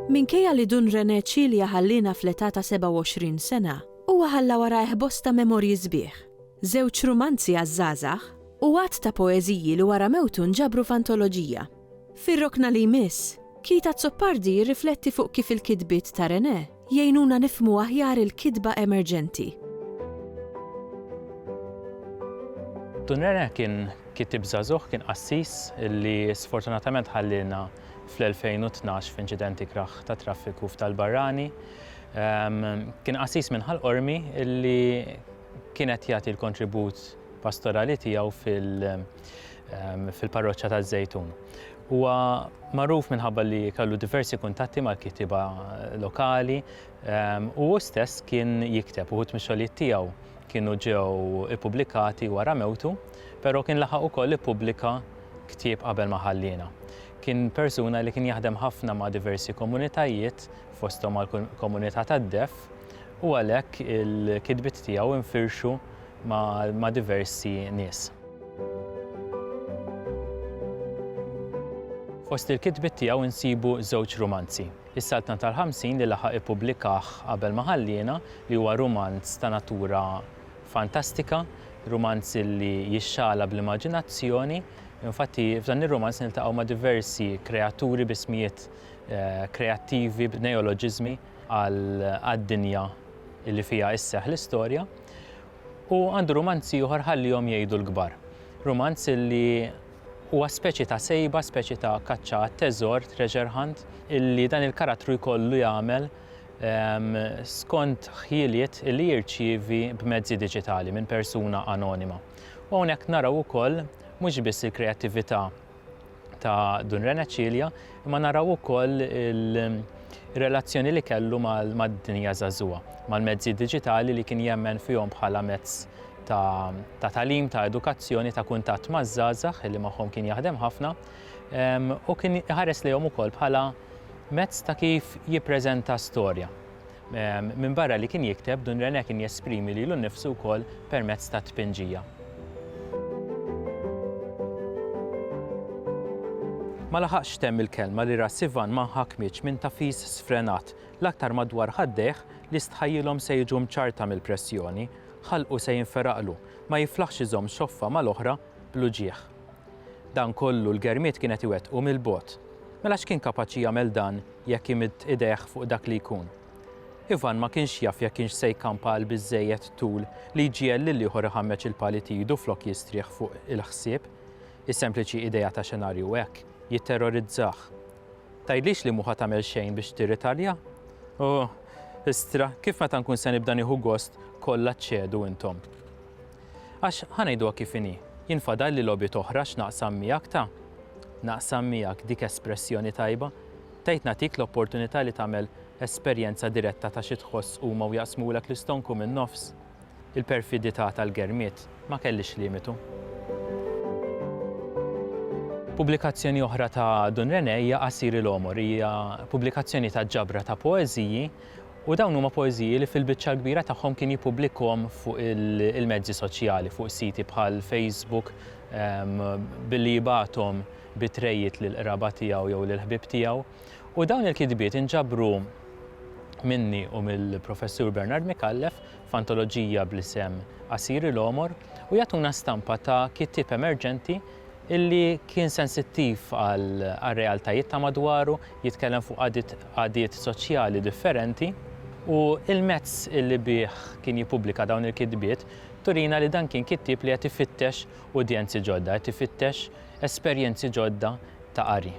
Minkejja li Dun René Cilia ħalliena fl-età ta' 27 sena, huwa ħalla warajh bosta memorji sbieħ, żewġ rumanzi għaż-żgħażagħ u għadd ta' poeżiji li wara mewtu nġabru f'antoloġija. Fir-rokna li jmiss, Keith Azzopardi jirrifletti fuq kif il-kitbiet ta' René jgħinuna nifhmu aħjar il-kitba emerġenti. Dun René kien kittieb żagħżugħ, kien qassis li sfortunatament ħallielna fl-2012 f'inċident ikrah ta' traffiku f'Tal Barrani. Kien qassis minn Ħal Qormi li kien qed jagħti l-kontribut pastorali tiegħu fil- fil-parroċċa taż-Żejtun. Huwa magħruf minħabba li kellu diversi kuntatti mal-kitiba lokali ehm, u hu stess kien jikteb uħud mix-xogħlijiet tiegħu kienu ġew ippubblikati wara mewtu, però kien laħaq ukoll ippubblika ktieb qabel ma ħalliena. Kien persuna li kien jaħdem ħafna ma' diversi komunitajiet fosthom mal-komunità tad-def u għalhekk il-kidbit tiegħu infirxu ma' diversi nies. Fost il-kitbiet tiegħu nsibu żewġ rumanzi, Is-Saltna tal-Ħamsin li laħaq ippubblikah qabel ma ħalliena, li huwa rumanz ta' natura fantastika, rumanz li jixxagħla bl-immaġinazzjoni. Infatti f'dan ir-rumanz niltaqgħu ma' diversi kreaturi b'ismijiet kreattivi, b'neoloġiżmi. għad-dinja li fiha isseħħ l-istorja, u għandu rumanz ieħor Ħallihom Jgħidu l-Kbar. Rumanz li huwa speċi ta' sejba, speċi ta' kaċċa għat-teżor, treasure hunt, li dan il-karattru jkollu jagħmel skont ħjieliet li jirċievi b'mezzi diġitali minn persuna anonima. U hawnhekk naraw ukoll mhux biss il-kreattività, ta' Dun Rena Ċilja, imma naraw ukoll il-relazzjoni li kellu mad-dinja żagħżugħa, mal-mezzi diġitali li kien jemmen fihom bħala mezz ta' talim, ta' edukazzjoni, ta' kuntatt maż-żgħażagħ li magħhom kien jaħdem ħafna u kien iħares lejhom ukoll bħala mezz ta' kif jippreżenta storja. Minbarra li kien jikteb, Dun René kien jesprimi lilu nnifsu wkoll permezz tat-tpinġija. Ma laħaqx temm il-kelma li ras Ivan ma nħakmitx minn tafis sfrenat, l-aktar madwar ħaddejh li stħajjilhom se jiġu mċarrta mill-pressjoni, ħalqu se jinferaqlu, ma jiflaħx iżomm xoffa mal-oħra bl-uġigħ. Dan kollu l-germiet kien qed iwettqu mill-bogħod. Mela x'kien kapaċi jagħmel dan jekk imidd idejh fuq dak li jkun? Ivan ma kienx jaf jekk kienx se jkampa għal biżżejjed tul li jġiegħel lil ieħor iħammeġ il-pali t'idu flok jistrieħ fuq il-ħsieb. Is-sempliċi idea ta' xenarju hekk jitterrorizzah. Tgħidlix li mhu ħa tagħmel xejn biex tirritalja? Ohh! Istra, kif meta nkun se nibda nieħu gost kollha ċċedu intom? Għax, ħa ngħiduha kif inhi, jien fadalli logħbiet oħra x'naqsam miegħek ta'. Naqsam miegħek, dik espressjoni tajba. Tgħid nagħtik l-opportunità li tagħmel esperjenza diretta ta' xi tħoss huma u jaqsmulek l-istonku min-nofs. Il-perfidità tal-Germiet ma kellhiex limitu. Pubblikazzjoni oħra ta' Dun René hija Qasir il-Għomor. Hija pubblikazzjoni ta' ġabra ta' poeżiji U dawn huma poeżiji li fil-biċċa l-kbira tagħhom kien jippubblikhom fuq il-mezzi soċjali, fuq siti bħal Facebook, billi jibgħathom bi trejjiet lill-qraba tiegħu jew lill-ħbieb tiegħu. U dawn il-kitbiet inġabru minni u mill-Professur Bernard Micallef f'antoloġija bl-isem Asiri l-Għomor u jagħtuna stampa ta' kittieb emerġenti illi kien sensittiv għar-realtajiet ta' madwaru, jitkellem fuq għadiet soċjali differenti u l-mezz li bih kien jippubblika dawn il-kitbiet turina li dan kien kittieb li qed ifittex udjenzi ġodda, qed ifittex esperjenzi ġodda ta' qari.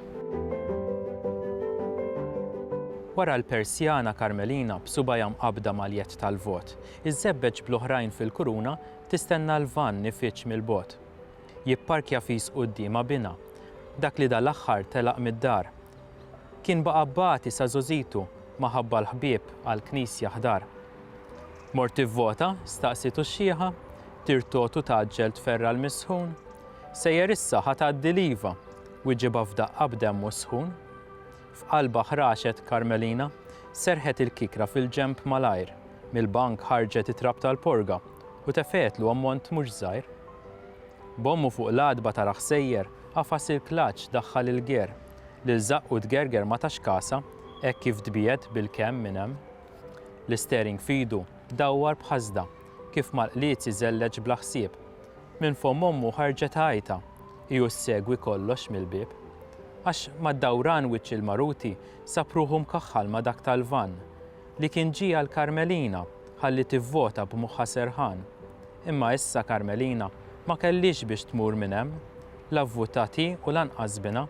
Wara l-persjana Karmelina b'subgħajha mqabbda mal-jedd tal-vot, iżżebbeġ bl-oħrajn fil-kuruna tistenna l-vann ifiġġ mill-bogħod. jipparkja fis quddiemha binha. Dak li dal-aħħar telaq mid-dar. Kien baqa' bati sa żgħożitu ma ħabba l-ħbieb għall-knisja ħdar. Mort tivvota? staqsietu x-xiħa. Tirtotu tgħaġġel tferra' l-misħun. Sejjer issa ħa tgħaddi l-iva? wiġibha f'daqqa b'demmu sħun. F'qalbha ħraxet Karmelina. Serrħet il-kikra fil-ġenb malajr. Mill-bank ħarġet it-trab tal-porga u tefgħetlu ammont mhux żgħir. B'ommu fuq l-għatba tarah sejjer, għafas il-klaċċ daħħal il-ger. Lil żaqqu tgerger ma tax kasha, hekk kif tbiegħed bil-kemm minn hemm. L-istering f'idu dawwar b'ħasda, kif mal-qliez iżelleġ bla ħsieb. Minn fomm ommu ħarġet għajta. Hi u ssegwi kollox mill-bieb. Għax mad-dawran wiċċ il-maruti sab ruħu mkaħħal ma' dak tal-vann, li kien ġie għal Karmelina ħalli tivvota b'moħħha serħan. Imma issa Karmelina ma kellhiex biex tmur minn hemm. La vvutat hi u lanqas binha.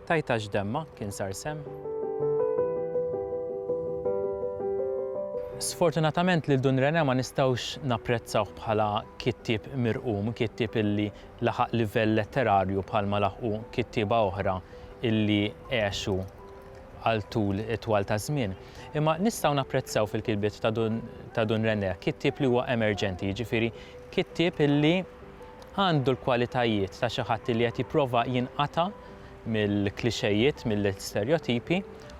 Tgħid għax demmha kien sar semm. Sfortunatament lil Dun René ma nistgħux napprezzawh bħala kittieb mirqum, kittieb illi laħaq livell letterarju bħalma laħqu kittieba oħra illi għexu għal tul itwal ta' żmien. Imma nistgħu napprezzaw fil-kitbiet ta' Dun, ta' Dun René kittieb li huwa emerġenti, jiġifieri kittieb illi għandu l-kwalitajiet ta' xi ħadd illi qed jipprova jinqata' mill-klixejiet, mill-isterjotipi